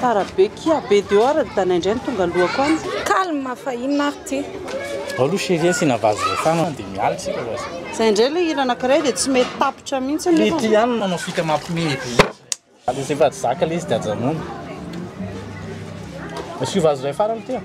Tara be kia be dehors ny dana indray no tonga lohako any. Calme fa inona ary ty. Ao aloha chérie asiana vazo refano an dia miala isika vazo. Zay indray ilay hira anakiray dia tsy mety tapitra mihitsy nefa. Ity ihany no manao fika mampime eto mihitsy. Aleo zay fa tsy zaka ilay izy dia ajanony. Asio vazo iray farany ity an.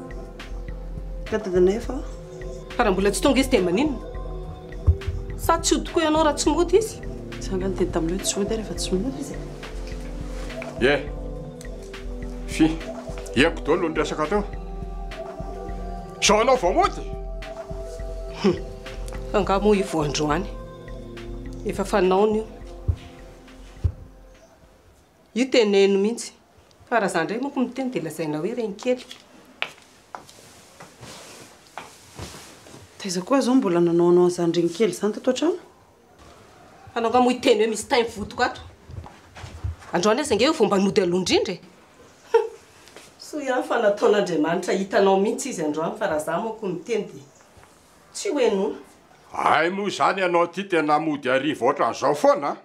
Fa raha mbola tsy tonga izy dia maninona? Sa tsy hody koa ianao raha tsy mody izy? Za angaha niteny taminao hoe tsy hody aho rehefa tsy mody izy e? Ye! Fy! Ieko daholo ny resaka teo. Izao ianao vao mody? Hum! Angaha moa i voandroany efa fanaony io? Io teneno mihitsy. Fa raha za ndray moko miteny dia lazaina hoe reny kely. Taiza koa zao mbola nanaonao an'izany reny kely izany tato an-trano? Anao nga moa hiteny hoe misy tay mivotoko ato. Androany aza nge io vao mba nody aloha indrindra e. Hum. Soa ihany fa nataon'Andriamanitra hitanao mihitsy izy androany fa raha za moko miteny dia tsy ho henoina. Hay moa izany ianao ity tena mody hariva ohatran'izao foana a!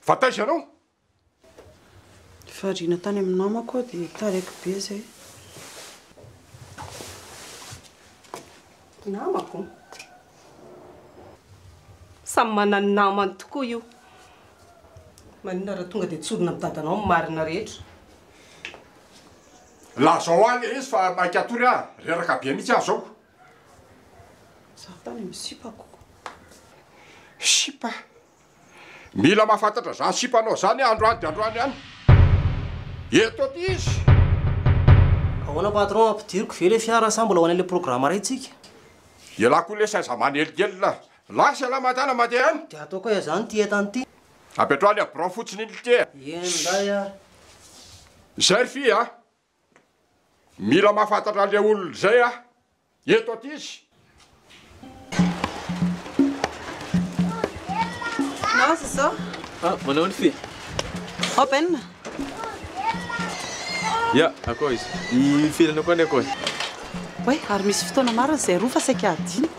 Fa taiza ianao? Variana tany amin'ny namako aho dia taraiky be izay. Namako? Samy manan'ny namany tokoa io. Maninona raha tonga dia tsorina amin'i dadanao ny marina rehetra? Lazao ahy ilay izy fa maika hatory aho. Reraka be mihitsy aho izao. Izaho tany amin'ny sipako. Sipa? Mila mahafantatra izany sipa anao izany androany dia androany ihany. Eto aty izy. Ahoana patron, ampidiriko ve le fiara sa mbola ho any le programa ray tsika? Elah koa lesy aza manelingelina. Lasa elah madala mandeha any. Dia ataoko aia zany ty entana ty? Apetraho any a birao fotsiny iny lite a. Eny ndray ary. Izay ry fy a. Mila mahafantatra an'ilay olona izay aho. Eto aty izy. Naoza izao? Ah, manao ny fy. Ao Ben. Ya, akoa izy. I filana koa ny akoa. Oe, ary misy fotoana marina izay roa fa saika adinoko.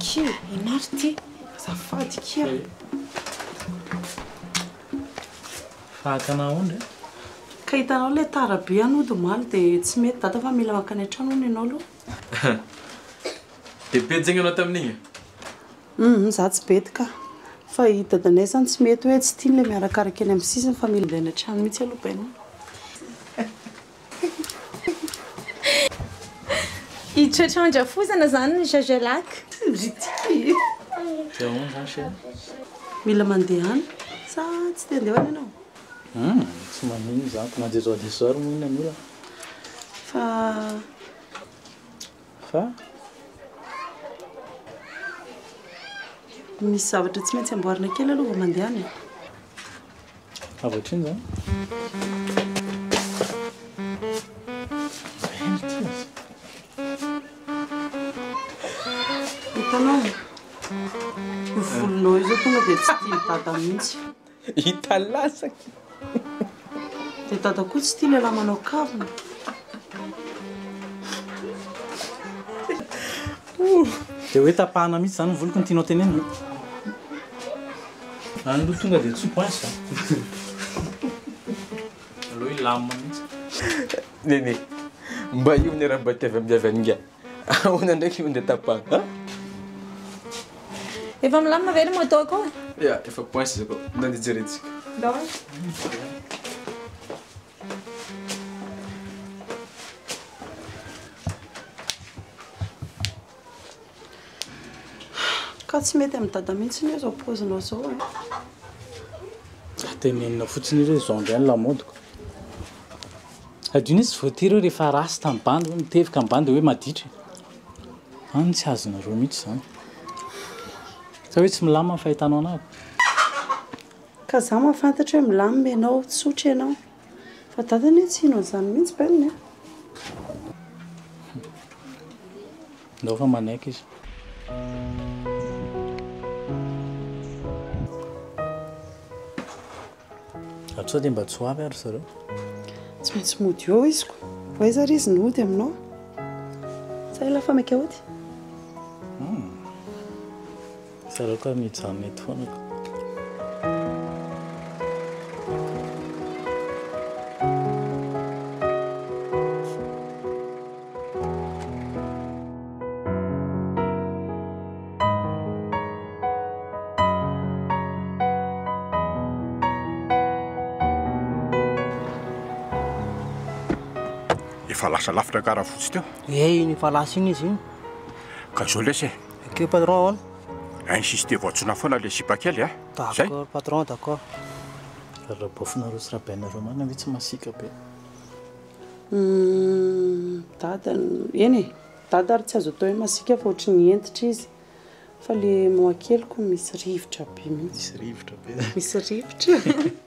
Kia inona ary ity azafady kia. Fahakana aondry a. Ka hitanao ilay tara be any hody omaly dia tsy mety dada fa mila mankany an-trano hono ianao aloha. Dia betsy ianao tamin'iny e? Humm izaho tsy bety ka. Fa i dadanay izany tsy mety hoe tsy tiany ilay miarakaraka eny amin'ny sisiny fa mila andeha any an-trano mihitsy aloha bainina. Hitratra an-drafozana izany ry Jajalac. Mila mandehana sa tsy te handeha ho any ianao? Hum, tsy maninona izany fa na dia izao dia izao ary moa inona no olana? Fa. Fa? Misy zavatra tsy maintsy amboarina kely aloha vao mandehana e. Avy hatrany izany. Hitanao? Io volonao io zao tonga dia tsy tian'i dada mihitsy. Hita latsaka. Dia dada koa tsy tia lehilahy manao kavina. Dia hoe tapahana mihitsy izany ny voliko no tianao tenenina? Any aloha tonga dia tsy point sa? Aleo hilamina mihitsy. Nene, mba io ny ara-bady avy amin'ny avy any nga. Ahoana ndraiky no andeha tapahana an? Efa milamina ve ny moto ko? Ya, efa point izy ko. Ndao andeha jerentsika. Ndao. Ka tsy mety amin'i Dada mihitsy anie izao paozinao izao e! Tenenina fotsiny hoe izao indray ny lamaodiko. Hadino hoe tsy voatery hoe rehefa rasta ny bandy hoe mitevika ny bandy dia hoe maditra e! An ny tsy azonareo mihitsy izany. Sa hoe tsy milamina ny fahitanao an'ahy? Ka za mahafantatra hoe milamina ianao, tsotra ianao. Fa dadany hoe tsy hino an'izany mihitsy Ben a! Ndao fa manaiky izy. Ary sao dia mba tsy ho avy ary zareo? Tsy maintsy mody eo izy ko. Ho aiza ary izy ny hody aminao? Sa i la femme est chaotique? Zareo ka mijanona eto foana ka. Efa lasa lavitra karafotsy teo. Eh iny efa lasa iny izy iny. Ka zao lesy e. Ok patron a. Insister voatsona foana le sipa kely a. D'accord patron, d'accord. Rarabaofinareo sy rabainareo marina ve tsy masiaka be? Humm dada no, eny e, dada ary tsy azo atao hoe masiaka fa ohatry ny hentitra izy fa le moa keliko misy rivotra be mihitsy. Misy rivotra be. Misy rivotra.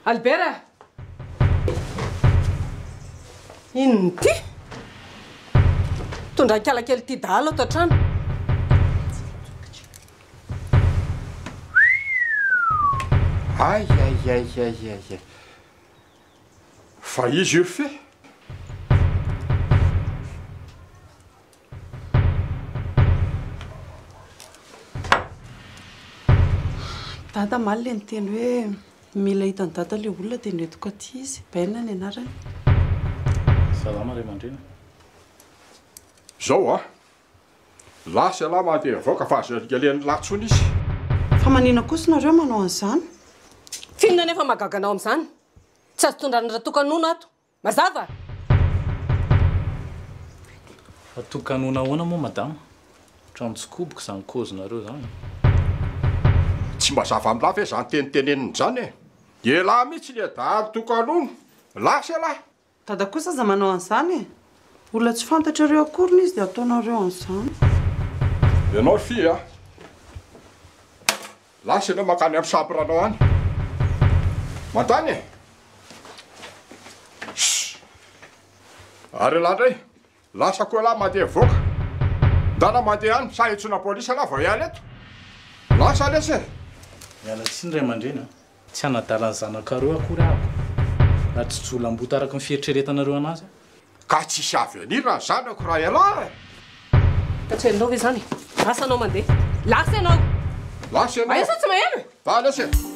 Albert a! Inona ity? Mitondra an-kiala kely ity dahalo ato an-trano. Ay, ay, ay, ay, ay, ay. Fa izy io fe. Dada maly ilay niteny hoe mila hitan'i Dada ilay olona dia noentiko aty izy. Ben ny anarany. Salama ry aman-dreny. Izao an! Lahy sy ialahy mandeha mivoaka fa aza alihalian'ny lahy intsony izy. Fa manina kosa nareo manao an'izany? Tsinona anefa mahagaga anao amin'izany? Tsy azo tondrana ratokanona ato. Mazava? Atokanona ahoana moa madama? Otrany tsy koboko izany kaozinareo izany e! Tsy mba zava amin'lah ve izany teny teneniny izany e! Elah mihitsy le dahalo tokanona! Lasa elah! Dada kosa aza manao an'izany e! Olona tsy fantatrareo akoriny izy dia ataonareo an'izany! Ianao fy a! Lasa ianao mankany amin'ny chambre-nao any. Mandany e! Shh! Ary elah indray, lasa koa elah mandeha mivoaka. Ndana mandeha any, sa entsoina polisy elah vao hiala eto? Lasa lesy e! Miala tsiny ray aman-dreny a! Tsy hanadala ny zanakareo akory aho raha tsy jolamboto araka ny fieritreretanareo anazy aho. Ka tsy hisy avy any raha zanako raha ialahy e! Ka tsy hainao ve izany e? Lasa ianao mandeha! Lasa ianao! Lasa ianao! Aia sa tsy maheno e! Ba lasa e!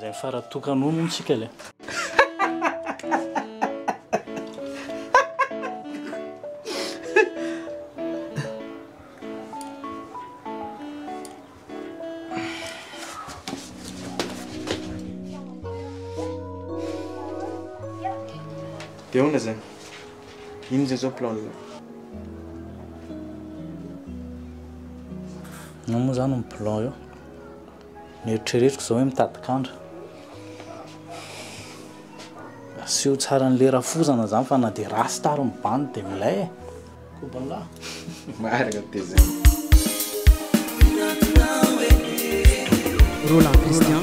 Zay fara tokana hono tsika le. Dia ahoana izany? Inona izay izao plan-nao? Inona moa izany ny plan eo? Nieritreretiko izao hoe mitady kandra. Asio tsara an'ilay rafozana izany fa na dia rasta ary ny bandy dia milay e. Kobanla. Marina dia izay. Roland Christian.